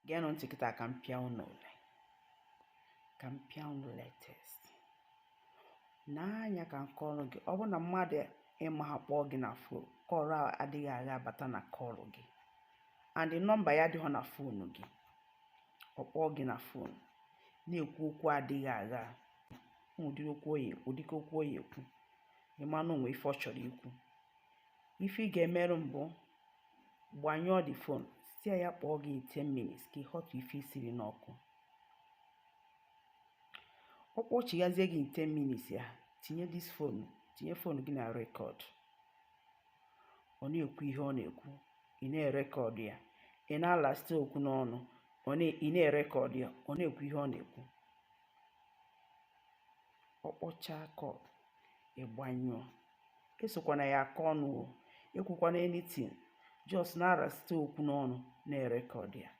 geenụ ntị kịta ka m pịa unu ule ka m pịa unu latest n'anya ka m kọọrọ gị ọ bụrụ na mmadụ ị maha kpọọ gị na fon call adịghị agha abata na call gị and nọmba ya adịghị na fon gị ọ kpọọ gị na fon na-ekwu okwu adịghị agha ụdịka okwu ọ ya-ekwu ị ma na o nwee ife ọ chọrọ ikwu ife ị ga-emere mbụ gbanyụọ the phone sị ya kpọọ gị 10 minutes ka ị họtụ ife i siri n'ọkụ ọ kpọchighazie gị 10 minutes ya tinye this phone tinye fon gị na rekọd ọ na-ekwu ihe ọ na-ekwu ị na-erekọd ya ị na-alasite okwu n'ọnụ ị na-erekọd ya ọ na-ekwu ihe ọ na-ekwu ọ kpọchaa call ị gbanyụọ esokwana ya aka ọnụ o ekwukwana anything just na-arasite okwu n'ọnụ na-erekọdụ ya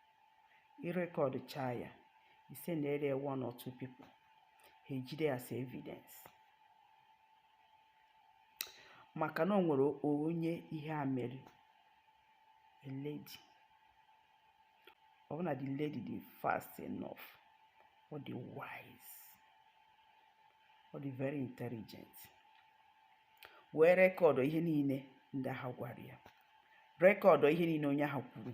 ị rekọdụchaa ya i sendere one or two people ha ejide as evidence maka na o nwere onye ihe a mere a lady ọ bụ na the lady dị fast enough ọ dị wise ọ dị very intelligent wee rekọdụ ihe niile ndị ahụ gwara ya rekọdụ ihe niile onye ahụ kwuru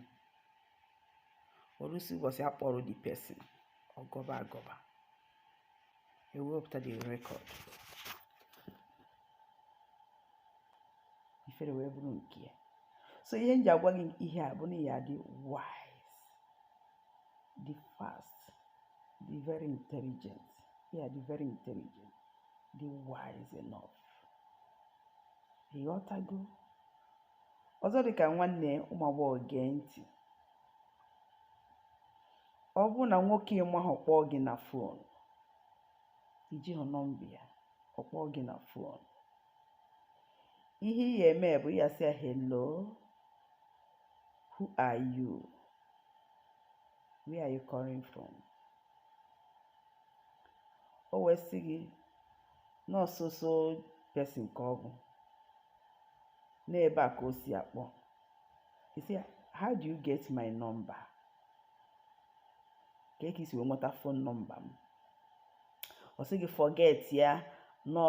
o ruzie ụbọchị a kpọrọ the person ọ gọba agọba e wepụta the record ifere wee bụrụ nke ya so ihe m ji agwa gị ihe a bụ na ya dị wise dị fast dị very intelligent ya dị very intelligent dị wise enough ị ghọtago ọzọ dị ka nwanne ụmụ agbọghọ gee ntị ọ bụrụ na nwoke ị mahọ kpọọ gị na fon i jihọ nọmba ya ọ kpọọ gị na fon ihe ị ya-eme bụ ị ya-asị ya hello who are you where are you calling from o wee sị gị na ọ so so person ka ọ bụ na ebe a ka o si akpọ ị sị how do you get my number kee ka i si wee nweta fon nọmba m ọ sị gị forget ya no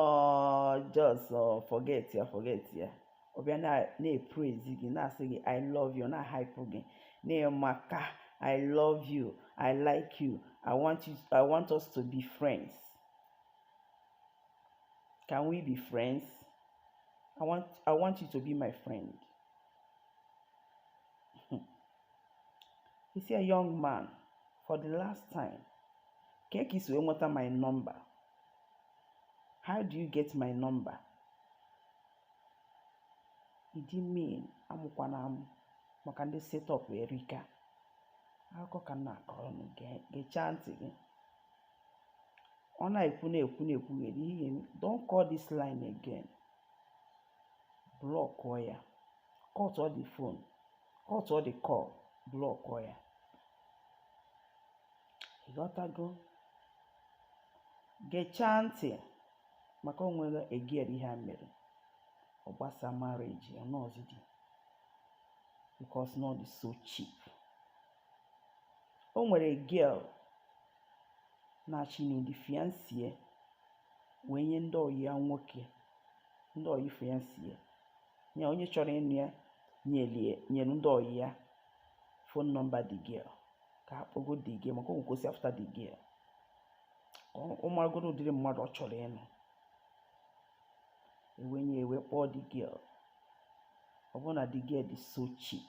just forget ya forget ya ọ bịa na-eprezi gị na-asị gị i love you na-ahaipụ gị na ị maka i love you i like you i want us to be friends Can we be friends? I want I want you to be my friend. Ị sị ya, young man, for the last time, kee ka i si nweta my number. How do you get my number? Ị dị mean amụkwana amụ maka ndị set up erika akụkọ ka m na-akọrọ unu gechaa ntị gị ọ na-ekwu na-ekwu na-ekwugheri ihe ga-eme don't call this line again blọkụọ ya cutuo the phone cutuo the call blọkụọ ya ịghọtago gechaa ntị maka o nwere a girl ihe a mere ọ gbasaa marriage ya ọ nụzịghị di because na ọ dị so cheap o nwere girl na-achọ ịnụ di fiancé wee nye ndị ọyị ya nwoke ndị ọyị fiancé ya onye chọrọ ịnụ ya nyelie nyere ndị ọyị ya phone number the girl ka ha kpọgo the girl maka onwe kwesị after the girl ka ọ maragoro ụdịrị mmadụ ọ chọrọ ịnụ e wee nye e wee kpọọ the girl ọ bụrụ na the girl dị so cheap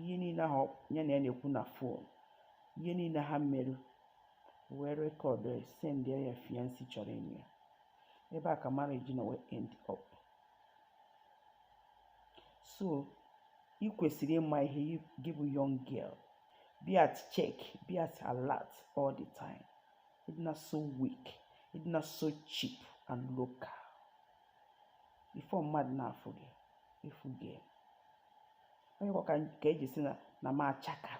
ihe niile ahụ ya na ya na-ekwu na phone ihe niile ha mere e wee rekọdụọ sendiara ya fiancé chọrọ ịnụ ya ebe a ka marriage nọ wee end up so ị kwesịrị ịma ihe gị bụ young girl be at check be at alert all the time ị dịna so weak ị dịna so cheap and local before mmadụ na-afụ gị ị fụgo ya ọ yakwa ka e ji sị na na m achaka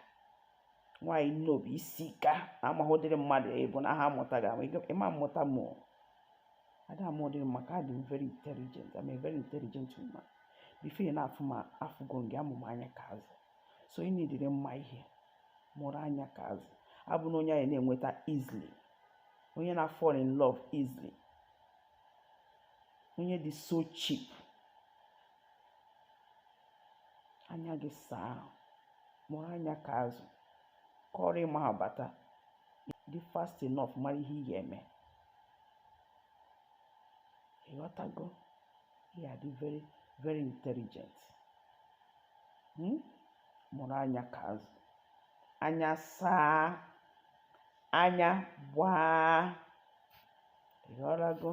nwaanyị na obi esika amaghị ụdịrị mmadụ ị bụ na ha amụta gị ama ị ma amụta mụ a da-ama ụdịrị m maka adị m very intelligent I'm a very intelligent woman before ị na-afụ m afụgo m gị amụ m anya ka azụ so ị needịrị ịma ihe mụrụ anya ka azụ abụna onye a ya na-enweta easily onye na-fall in love easily onye dị so cheap anya gị saa mụrụ anya ka azụ ka ọ bụrụ ma ha bata ị dị fast enough mara ihe ị ga-eme ịghọtago ị ya-adị very very intelligent hmm? mụrụ anya ka azụ anya saa anya gbaa. Ị ghọtago?